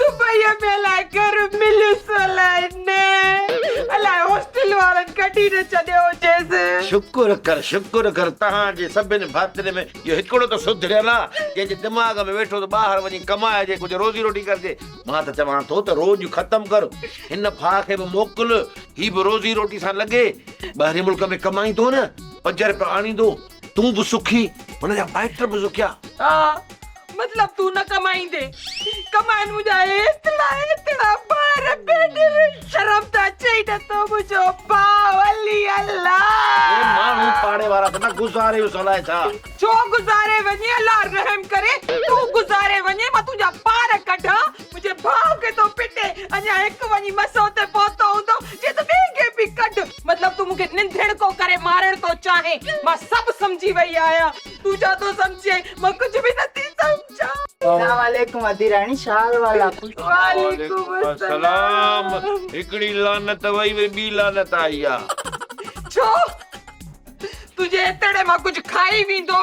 دبئيء ۾ الاء گهر مليس الاء نه، الاء هاسٽل وارن ڪڍي نه ڇڏيو هجيس. شڪر ڪر شڪر ڪر تهان جي سڀني ڀاترين ۾ اهو هڪڙو ته سڌريل آ، جنهن جي دماغ ۾ ويٺو ته ٻاهر وڃي ڪمائجي ڪجهه روزي روٽي ڪرجي. مان ته چوان ٿو ته روڄ ختم ڪر، هن ڦاء کي به موڪل، هي به روزي روٽي سان لڳي. ٻاهرين ملڪ ۾ ڪمائيندو نه، پنج رپيا آڻيندو، تون به سکي هن جا مائٽ به سکيا. ها مطلب تون نه ڪمائيندي ڪمائن منهنجا ايترا ايترا ٻار پيٽ ۾ شرم ته اچي ئي نه ٿو منهنجو ڀاء علي اي الله. ماڻهو پاڙي وارا ته نه گذاريوس الائي ڇا. ڇو گذاري وڃي الله رحم ڪري تون گذاري وڃي مان تنهنجا پار ڪڍان منهنجي ڀاء کي ٿو پٽي اڃا هڪ وڃي مسئو تي پهتو هوندو چي ته ٻئي کي به ڪڍ. مطلب تون مونکي ننڌڻ ڪو ڪري مارڻ ٿو چاهين مان سڀ سمجهي وئي آهيان تون ڇا ٿو سمجهين مان ڪجهه به نه ٿي سمجهان. سلام عليڪم ادي راڻي شال والا. وعليڪم السلام هڪڙي لعنت وئي وئي ٻي لعنت آئي آ. ڇو تنهنجي اتڙي مان ڪجهه کائي ويندو.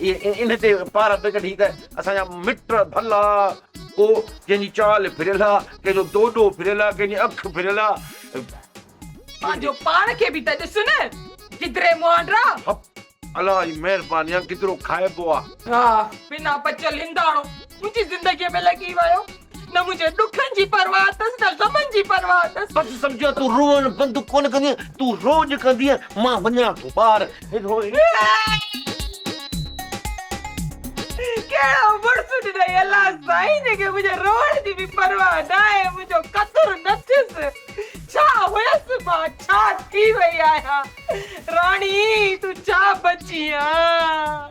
اهي ان تي پارا پئي ڪڍين ته اسان جا مٽ ڀلا، ڪو ڪنهن جي چال ڦريل آ، ڪنهن جو دوڏو ڦريل آ، ڪنهن جي اک ڦريل آ. پنهنجو پاڻ کي به ته ڏس نه گدري مهانڊرا. هپ! الله جي مهرباني آ، گدرو کائبو آ. ها! بنا بچل هنداڻو منهنجي زندگيء ۾ لڳي ويو. نه منهنجي ڏکن جي پرواهه اٿس نه غمن جي پرواهه اٿس. بس سمجهيا تون روئڻ بند ڪونه ڪندينء تون روڄ ڪندينء مان وڃان ٿو ٻاهر ڪهڙو مڙس ڏنائين الله سائين جنهنکي منهنجي روئڻ جي به پرواهه ناهي منهنجو قدر نٿيس ڇا هيس مان ڇا ٿي وئي آهيان راڻي تون ڇا بچي آن.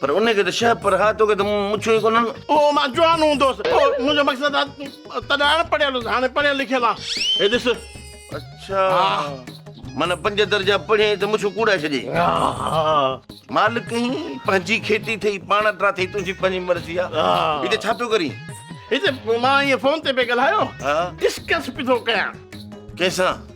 پر ان کي ته شهه پر ها توکي ته مڇون ئي ڪونهن. او مان جوان هوندو هوس. او منهنجو مقصد آ تڏهن اڻ پڙهيل هوس هاڻي پڙهيل لکيل آ. هي ڏس. اڇا. معنيٰ پنج درجا پڙهين ته مڇون ڪوڙائي ڇڏين. مالڪ هين پنهنجي کيٽي ٿئي پاڻ ٽرا ٿئي تنهنجي پنهنجي مرضي آ. هتي ڇا پيو ڪرين؟ هتي مان ائين فون تي پئي ڳالهايو. ها. ڊسڪس پيو ٿو ڪيان. ڪنهن سان؟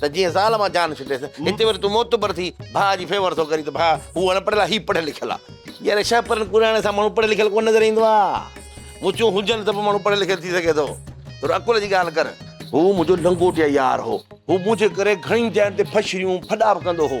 ته جيئن زال مان جان ڇٽيس. هتي وري تون معتبر ٿي ڀاء جي فيور ٿو ڪرين ته ڀاء هو اڻ پڙهيل آ هي پڙهيل لکيل آ. يار ڇا پرن ڪراڻي سان ماڻهو پڙهيل لکيل ڪونه نظر ايندو آ. مچون هجن ته به ماڻهو پڙهيل لکيل ٿي سگهي ٿو. ٿورو عقل جي ڳالهه ڪر. هو منهنجو لنگوٽيا يار هو. هو منهنجي ڪري گهڻين جاين تي ڦشريون ڦڏا به ڪندو هو.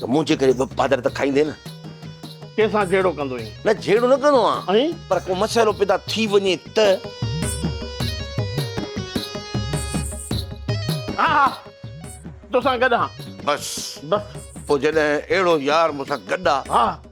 ته منهنجي ڪري به پادر ته کائيندين نه. ڪنهن سان جهيڙو ڪندو ايئن؟ نه جهيڙو نه ڪندو آهيان. ائين؟ پر ڪو مسئلو پيدا ٿي وڃي ته. ها ها توسان گڏ آهان. بس. بس. پوء جڏهن اهڙو يار مون سان گڏ آهي. ها.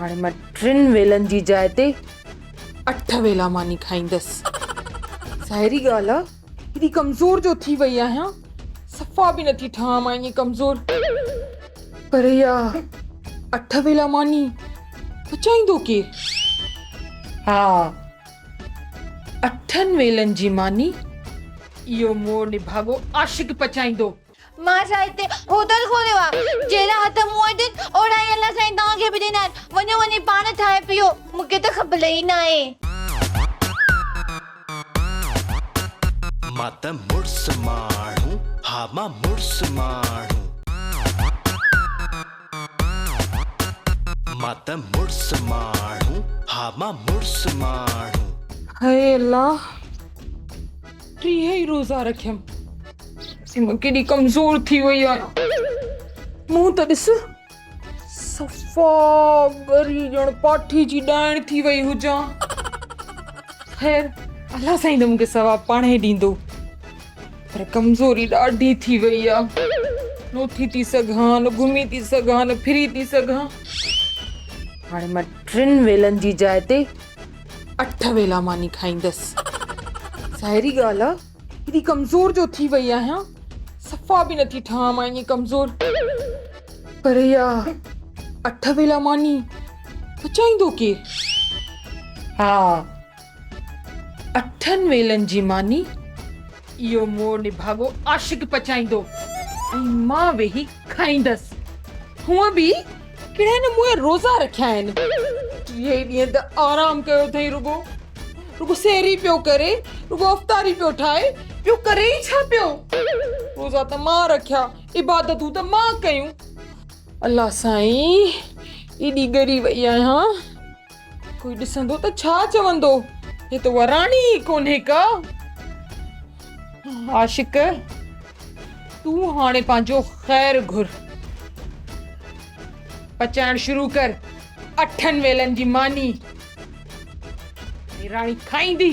هاڻي مان ٽن ويلن جي جاء تي اٺ ويلا ماني کائيندس. ظاهري ڳالهه آ ڪيڏي ڪمزور جو ٿي وئي آهيان. صفا به نٿي ٺهان مان ائين ڪمزور. پر اها اٺ ويلا ماني پچائيندو ڪير؟ ها اٺن ويلن جي ماني اهو مون نڀاڳو عاشق پچائيندو. مان سائين هتي هوٽل کوليو آ، جهڙا هٿ مون وٽ آهن، اوڙا ئي الله سائين توهان کي به ڏنا آهن، وڃو وڃي پاڻ ٺاهي پيئو، مون کي ته خبل ئي ناهي. مان ته مڙس ماڻهو، ها مان مڙس ماڻهو. مان ته مڙس ماڻهو، ها مان مڙس ماڻهو. هي الله! ٽيهه ئي روزا رکيم. سيما ڪيڏي ڪمزور ٿي وئي آهي. منهن ته ڏس. صفا ڳري ڄڻ پاٺي جي ڏائڻ ٿي وئي هجان. خير الله سائين ته مون کي ثواب پاڻهي ڏيندو. پر ڪمزوري ڏاڍي ٿي وئي آهي. نه اٿي ٿي سگهان، نه گهمي ٿي سگهان، نه ڦري ٿي سگهان. هاڻي مان ٽن ويلن جي جاء تي اٺ ويلا ماني کائيندس. ظاهري ڳالهه آ ڪيڏي ڪمزور جو ٿي وئي آهيان. صفا به نٿي ٺهان مان ائين ڪمزور. پر اها اٺ ويلا ماني پچائيندو ڪير؟ ها اٺن ويلن جي ماني اهو مور نڀاڳو عاشق پچائيندو ۽ مان ويهي کائيندس. هونء به ڪهڙا هن مون جا روزا رکيا آهن. ٽيهي ڏينهن ته آرام ڪيو اٿئي رڳو. رڳو سحري پيو ڪري، رڳو افطاري پيو ٺاهي، ٻيو ڪري ئي ڇا پيو؟ روزا ته مان رکيا، عبادتون ته مان ڪيون. الله سائين ايڏي ڳري وئي آهيان. ڪوئي ڏسندو ته ڇا چوندو هي ته وراڻي ئي ڪونهي ڪا عاشق تون هاڻي پنهنجو خير گهر پچائڻ شروع ڪر اٺن ويلن جي ماني راڻي کائيندي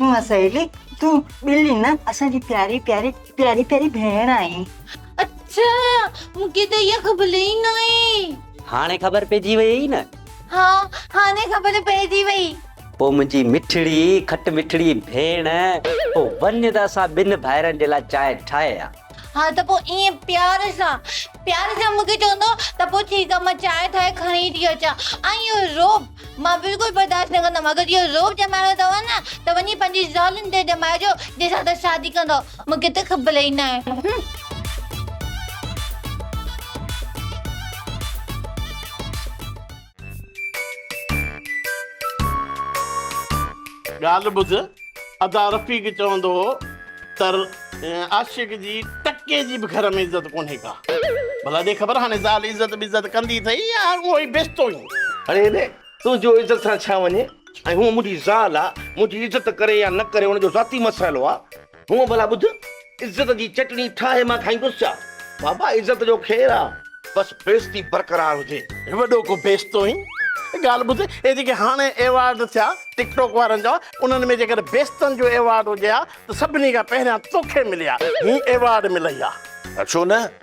هونء سهيلي تون ٻلي نه اسان جي پياري پياري پياري پياري ڀيڻ آهين. اڇا مون کي ته اها خبر ئي ناهي. هاڻي خبر پئجي ويئي نه. ها هاڻي خبر پئجي ويئي. پوء منهنجي مٺڙي کٽ مٺڙي ڀيڻ پوء وڃ ته اسان ٻن ڀائرن جي لاء چانهه ٺاهي ها. ها ته پوء ائين پيار سان پيار سان مون کي چوندو ته پوء ٺيڪ آهي مان چانهه ٺاهي کڻي ٿي اچان ۽ اهو رعب. مان بلڪل برداشت نه ڪندم اگر اهو رعب ڄمائڻو اٿئو نه ته وڃي پنهنجي زالن تي ڄمائجو جنهن سان ته شادي ڪندئو مون کي ته خبر ئي نه آهي. ڳالهه ٻڌ. ادا رفيق چوندو هو ته عاشق جي ٽڪي جي به گهر ۾ عزت ڪونهي ڪا. ڀلا ڏي خبر هاڻي زال عزت بعزت ڪندي اٿئي يا اهو ئي بيستو ئي. اڙي هيڏي، تنهنجو عزت سان ڇا وڃي؟ ۽ هونء منهنجي زال آ، منهنجي عزت ڪري يا نه ڪري ان جو ذاتي مسئلو آ. هونء ڀلا ٻڌ، عزت جي چٽڻي ٺاهي مان کائيندس ڇا؟ بابا عزت جو خير آ بس بيعزتي برقرار هجي. وڏو ڪو بيعزتو هين. ڳالهه ٻڌ اهي جيڪي هاڻي ايوارڊ ٿيا ٽڪ ٽوڪ وارن جا انهن ۾ جيڪڏهن بيعزتن جو ايوارڊ هجي ها ته سڀني کان پهريان توکي ملي ها هين ايوارڊ ملئي ها. ڇو نه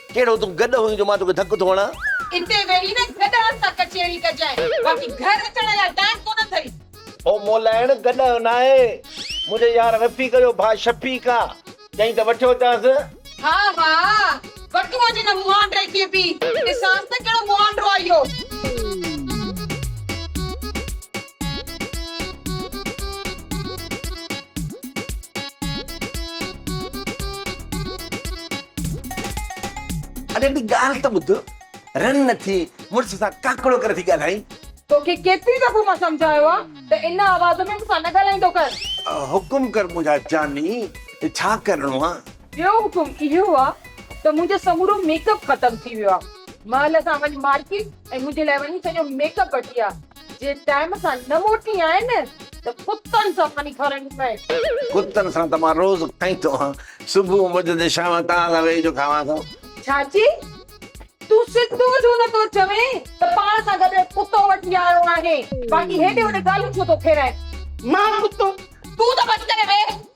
ڪهڙو تون گڏهه هئين جو مان توکي ڌڪ ٿو هڻان. اتي ويهي نه گڏهن سان ڪچهري ڪجانء، باقي گهر اچڻ لاء ٽائيم ڪونه اٿئي. او مولائڻ گڏهه ناهي، منهنجي يار رفيق جو ڀاء شفيق آ، چئين ته وٺيو اچانس. ها ها، وٺو اچ هن مهانڊي کي به، ڏسانس ته ڪهڙو مهانڊو آ اهو. اڙي هڪڙي ڳالهه ته ٻڌ، رن نه ٿي، مڙس سان ڪاڪڙو ڪري ٿي ڳالهائين. توکي ڪيتري دفعو مان سمجهايو آ ته ان آواز ۾ مون سان نه ڳالهائيندو ڪر. حڪم ڪر منهنجا جاني، ڇا ڪرڻو آ؟ ٻيو حڪم اهو آ ته منهنجو سمورو ميڪ اپ ختم ٿي ويو آ. مهل سان وڃ مارڪيٽ ۽ منهنجي لاء وڃي سڄو ميڪ اپ وٺي آ. جي ٽائيم سان نه موٽي آئي نه ته ڪتن سان ماني کارائڻي پئي. ڪتن سان ته مان روز کائين ٿو ها. صبح مان وجهه ته شام توهان سان ويهي جو کاوان ٿو. چاچي تون سڌو ڇو نه ٿو چوين ته پاڻ سان گڏ ڪتو وٺي آيو آهين. باقي هيڏي هوڏي ڳالهيون ڇو ٿو ڦيرائين. مان ڪتو تون ته بس ڪري ويهه.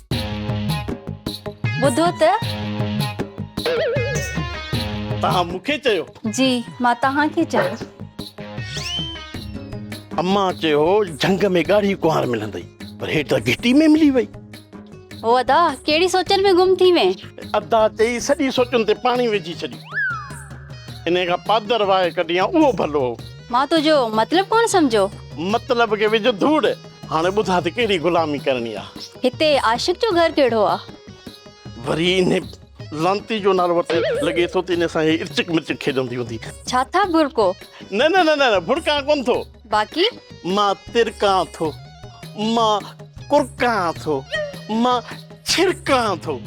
ٻڌو ته. توهان مون کي چيو. جي مان توهان کي چيو. امان چيو هو جهنگ ۾ ڳاڙهي ڪنوار ملندئي پر هي ته گهٽي ۾ ملي وئي. او ادا ڪهڙي سوچن ۾ گم ٿي وئين. ادا چئي سڄي سوچن تي پاڻي وجهي ڇڏيو. انهي کان پادر وهائي ڪڍيان اهو ڀلو هو. مان تنهنجو مطلب ڪونه سمجهيو. مطلب کي وجهه ڌوڙ. هاڻي ٻڌاء ته ڪهڙي غلامي ڪرڻي آ. هتي عاشق جو گهر ڪهڙو آ؟ وري انهي لعنتي جو نالو ورتي. لڳي ٿو ته انهي سان هي ارچڪ مرچڪ کيڏندي هوندي. ڇا ٿا برڪو؟ نه نه نه نه برڪان ڪونه ٿو. باقي؟ مان ترڪان ٿو. مان ڪرڪان ٿو. مان ڇرڪان ٿو.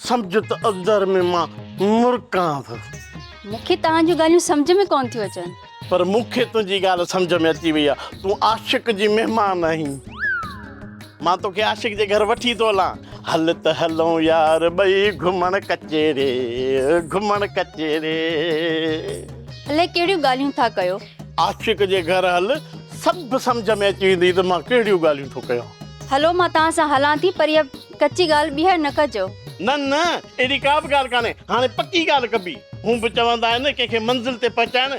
سمجهه ته اندر ۾ مان مرڪان ٿو. مون کي توهان جون ڳالهيون سمجهه ۾ ڪونه ٿيون اچن. پر مون کي تنهنجي ڳالهه سمجهه ۾ اچي وئي آهي. تون عاشق جي مهمان آهين. مان توکي عاشق جي گهر وٺي ٿو هلان. هل ته هلون يار ٻئي گهمڻ ڪچهري، گهمڻ ڪچهري. الائي ڪهڙيون ڳالهيون ٿا ڪيو. عاشق جي گهر هل، سڀ سمجهه ۾ اچي ويندي ته مان ڪهڙيون ڳالهيون ٿو ڪيان. هلو مان توهان سان هلان ٿي پر اها. ڪچي ڳالهه ٻيهر نه ڪجو. نه نه اهڙي ڪا به ڳالهه ڪانهي هاڻي پڪي ڳالهه ڪبي. هونء به چوندا آهن ڪنهن کي منزل تي پهچائڻ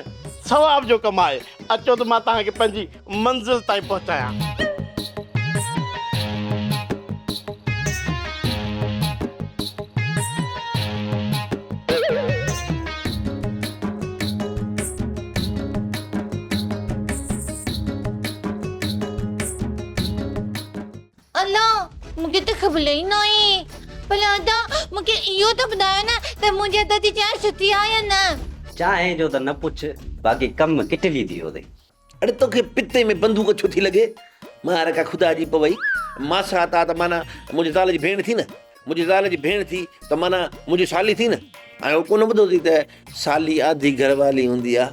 ثواب جو ڪم آهي. اچو ته مان توهان کي پنهنجي منزل تائين پهچايان. ادا مون کي ته خبل ئي ناهي پر ادا مون کي اهو ته ٻڌايو نه ته منهنجي ادا جي چانهه سٺي آهي يا نه. چانهه جو ته نه پڇ باقي ڪم ڪٽلي ٿي ويو اٿئي. اڙي توکي پتي ۾ بندوق ڇو ٿي لڳي. مان رکا خدا جي پوي ماسا تا ته معنيٰ منهنجي زال جي ڀيڻ ٿي نه منهنجي زال جي ڀيڻ ٿي ته معنيٰ منهنجي سالي ٿي نه. آء اهو ڪونه ٻڌو اٿئي ته سالي آڌي گهر والي هوندي آهي.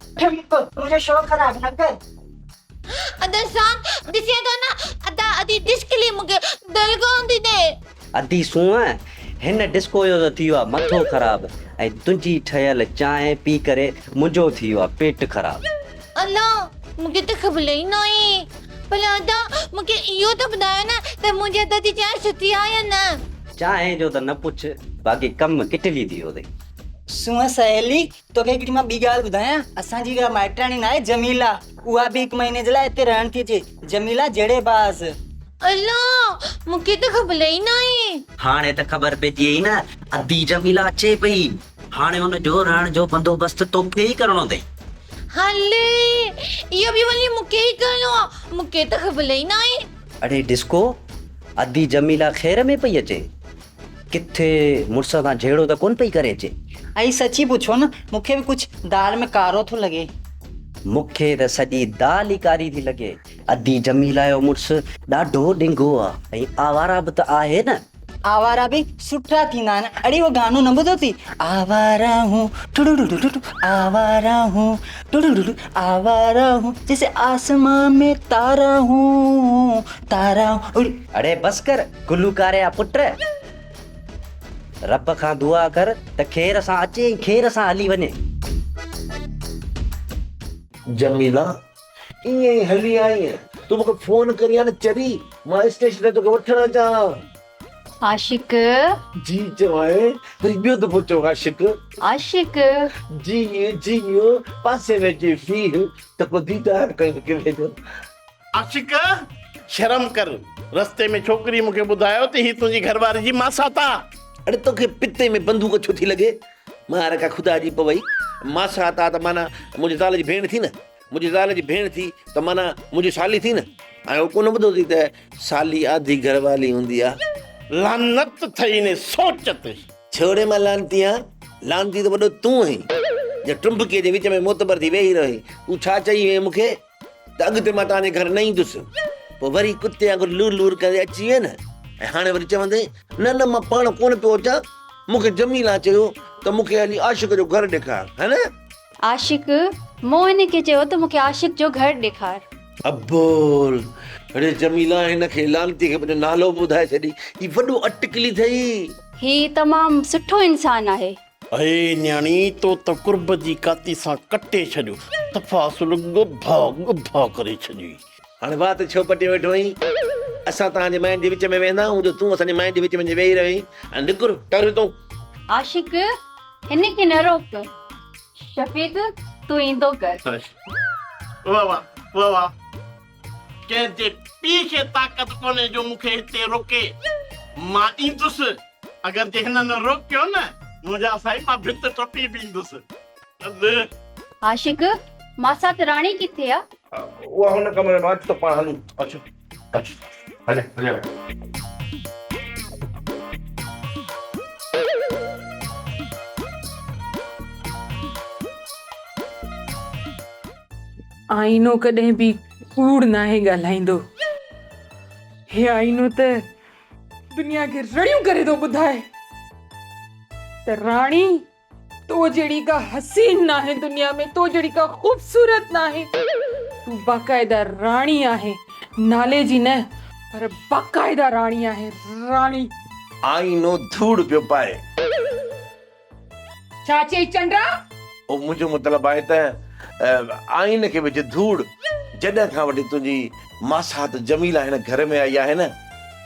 ٺمڪ تنهنجو شو خراب نه ڪر. ادا سان ڏسين ٿو نه. ادا ادي ڊسڪلي مونکي دل ڪون ٿي ڏي. ادي سونهن هن ڊسڪو جو ته ٿيو آ مٿو خراب ۽ تنهنجي ٺهيل چانهه پي ڪري منهنجو ٿيو آ پيٽ خراب. ادا مونکي ته خبل ئي ناهي پر ادا مونکي اهو ته ٻڌايو نه ته منهنجي هٿ جي چانهه سٺي آ يا نه. چانهه جو ته نه پڇ باقي ڪم ڪٽلي ٿيو اٿئي. سونهن سهيلي توکي هڪڙي مان ٻي ڳالهه ٻڌايان، اسان جي اها مائٽياڻي ناهي جميله، اها به هڪ مهيني جي لاء هتي رهڻ ٿي اچي، جميله جهڙي باز. الا! مون کي ته خبل ئي ناهي. هاڻي ته خبر پئجي وئي نه ادي جميله اچي پئي، هاڻي ان جو رهڻ جو بندوبست توکي ئي ڪرڻو اٿئي. هلي! اهو به ولي مون کي ئي ڪرڻو آ، مون کي ته خبل ئي ناهي. اڙي ڊسڪو! ادي جميله خير ۾ پئي اچي. ڪٿي مڙس سان جهيڙو ته ڪونه پئي ڪري اچي؟ ائين سچي پڇو نه، مون کي به ڪجهه دال ۾ ڪارو ٿو لڳي. مون کي ته سڄي دال ئي ڪاري ٿي لڳي. ادي جميله جو مڙس ڏاڍو ڏنگو آ ۽ آوارا به ته آهي نه. آوارا به سٺا ٿيندا آهن. اڙي اهو گانو نه ٻڌو اٿئي، آوارا هون ٽڙڙڙڙڙ آوارا هون ٽڙڙڙڙڙ آوارا هون جيسي آسمان ۾ تارا هون تارا هون. اڙي بس ڪر گلوڪار جا پٽ رب کان دعا ڪر ته خير سان اچي ۽ خير سان هلي وڃي. جميلا ائين ئي هلي آئينء تون مون کي فون ڪرين ها نه چري مان اسٽيشن تائين توکي وٺڻ اچان ها. عاشق! جي چوانء وري ٻيو دفعو چئو عاشق. عاشق! جي جي پاسي ۾ اچي ويهه ته ڪو ديدار ڪرڻ ڪري ٿو. عاشق! شرم ڪر. رستي ۾ ڇوڪريء مون کي ٻڌايو ته هي تنهنجي گهر واري جي ماسات آ. اڙي تو کي پتي ۾ بندوق ڇو ٿي لڳي؟ مان رکا خدا جي پوي. ماسات آ ته معنيٰ منهنجي زال جي ڀيڻ ٿي نه. منهنجي زال جي ڀيڻ ٿي ته معنيٰ منهنجي سالي ٿي نه. آء اهو ڪونه ٻڌو اٿئي ته سالي آڌي گهر واري هوندي آ. لعنت اٿئي انهي سوچ تي. ڇوڙي مان لعنتي آ. لعنتي ته وڏو تون آهين، جو ٽنبڪيء جي وچ ۾ معتبر ٿي ويهي رهو آهين. تون ڇا چئي وئين مون کي؟ ته اڳتي مان توهان جي گهر نه ايندس. پوء وري ڪتي وانگر لور لور ڪندي اچي ويئي نه؟ ۽ هاڻي وري چوندين، نه نه مان پاڻ ڪونه پيو اچان، مون کي جميلا چيو ته مون کي هلي عاشق جو گهر ڏيکار ها نه؟ عاشق، موهن کي چيو ته مون کي عاشق جو گهر ڏيکار. ابول، اڙي جميلا هن کي لعنتي کي پنهنجو نالو به ٻڌائي ڇڏي، هي وڏو اٽڪلي ٿئي. هي تمام سٺو انسان آهي. اي نياڻي تو ته قرب جي ڪاتي سان ڪٽي ڇڏيو دفعا اصل ڳڀا ڳڀا ڪري ڇڏيئي. هاڻي وات ڇو پٽي ويٺو آهين؟ اسان تان جي ماين جي وچ ۾ ويهندا آهون جو تون اسان جي ماين جي وچ ۾ اچي ويهي رهين. هاڻي نڪر ٽر هتون. عاشق هن کي نه روڪ. شفيق تون ايندو ڪر. واهه واهه واهه واهه. ڪنهن جي پيء کي طاقت ڪونهي جو مون کي هتي روڪي. مان ايندس. اگر جي هن نه روڪيو نه منهنجا سائين مان ڀت ٽپي به ايندس. ادي. عاشق، ماسات راڻي ڪٿي آ؟ اها هن ڪمري ۾ آ. اچ ته پاڻ هلون. اچ اچ هليا هليا ويا. آئينو ڪڏهن به ڪوڙ ناهي ڳالهائيندو. هي آئينو ته دنيا کي رڙيون ڪري ٿو ٻڌائي ته راڻي تو جهڙي ڪا حسين ناهي دنيا ۾ تو جهڙي ڪا خوبصورت ناهي تون باقاعده راڻي آهي نالي جي نه پر باقاعده راڻي آهي راڻي. آئينو ڌوڙ پيو پائي. ڇا چيئي چنڊا؟ او منهنجو مطلب آهي ته آئينه کي وجهه ڌوڙ، جڏهن کان وٺي تنهنجي ماسات جميله هن گهر ۾ آئي آهي نه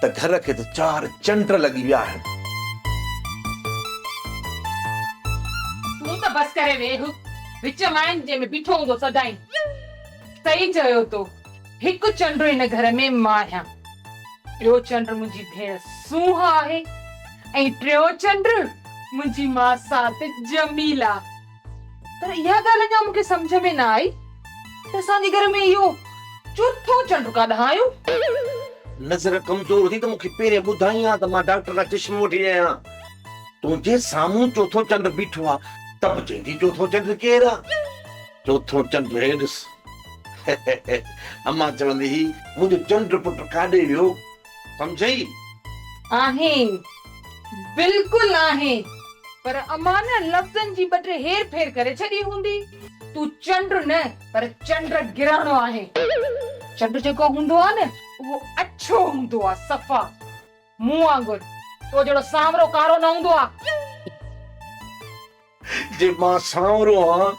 ته گهر کي ته چار چنڊ لڳي ويا آهن. تون ته بس ڪري ويهه، وچ مائن جنهن ۾ بيٺو هوندو سدائين صحيح چيو تو. هڪ چنڊ هن گهر ۾ مان آهيان، ٻيو چنڊ منهنجي ڀيڻ سونهن آهي ۽ ٽيون چنڊ منهنجي ماسات جميلا. پر اها ڳالهه اڃا مون کي سمجهه ۾ نه آئي ته اسان جي گهر ۾ اهو چوٿون چنڊ ڪاڏانهن آيو؟ نظر ڪمزور ٿي ته مون کي پهرين ٻڌائين ها ته مان ڊاڪٽر کان چشمو وٺي آيو آهيان. تنهنجي سامهون چوٿون چنڊ بيٺو آهي ته به چوندين چوٿون چنڊ ڪير آهي؟ چوٿون چنڊ هي ڏس. امان چوندي هي منهنجو چنڊ پٽ ڪاڏي ويو سمجهئي؟ آهين. بلڪل آهين. پر امان نه لفظن جي ٻه ٽي هير ڦير ڪري ڇڏي هوندي. تون چنڊ نه پر چنڊ گرهڻو آهين. چنڊ جيڪو هوندو آ نه اهو اڇو هوندو آ صفا. مون وانگر تو جهڙو سانورو ڪارو نه هوندو آ. جي مان سانورو آهيان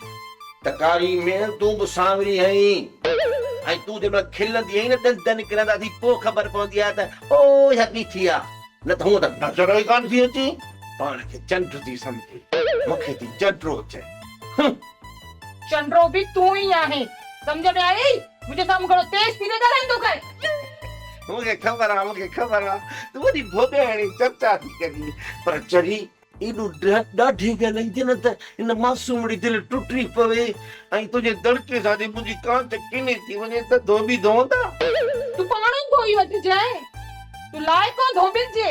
ته ڪاري ميڻ تون به سانوري آهين ۽ تون جنهن مهل کلندي آهين نه ڏند نڪرندا اٿئي پوء خبر پوندي آهي ته او اها بيٺي آ نه ته هونء ته نظر ئي ڪانه ٿي اچين. پاڻ کي چنڊ ٿي سمجهي مون کي ٿي چنڊرو چئي. هنم. چنڊرو به تون ئي آهين سمجهه ۾ آيئي. منهنجي سامهون گهڻو تيز ٿي نه ڳالهائيندو ڪر. مون کي خبر آ مون کي خبر آ تون وڏي ڀوڳي هڻي چرچا ٿي ڪرين پر چري ايڏو ڏاڍي ڳالهائيندي نه ته هن معصومڙي دل ٽٽي پوي ۽ تنهنجي دڙڪي سان جي منهنجي ڪانچ ڪني ٿي وڃي ته ڌوٻي ڌوندا. تون پاڻ ئي ڌوئي وٺجانء تون لائق آن ڌوٻين جي.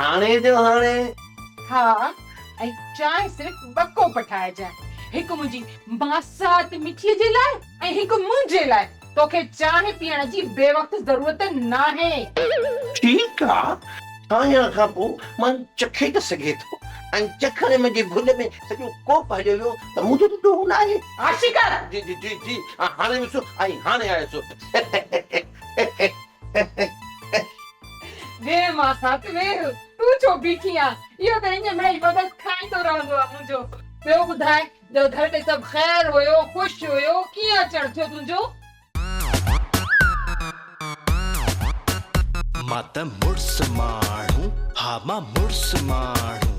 هاڻي جو هاڻي. ها ۽ چانهه صرف ٻه ڪوپ ٺاهجان. هڪ منهنجي ماسات مٺيء جي لاء ۽ هڪ منهنجي لاء. توکي چانهه پيئڻ جي بي وقت ضرورت ناهي. ٺيڪ آ. کائڻ کان پوء مان چکي ته سگهي ٿو ۽ چکڻ ۾ جي ڀل ۾ سڄو ڪوپ هليو ويو ته مون جو ته ڏوهه ناهي. عاشق! جي جي جي جي هاڻي وسو ۽ هاڻي آيس. ويهه ماء سات ويهه، تون ڇو بيٺي آن، اهو ته اڃ مڙئي مدد کائيندو رهندو آ منهنجو. ٻيو ٻڌاء جو گهر ۾ سڀ خير هيو، خوش هيو، ڪيئن اچڻ ٿيو تنهنجو؟ مان ته مڙس ماڻهو، ها مان مڙس ماڻهو.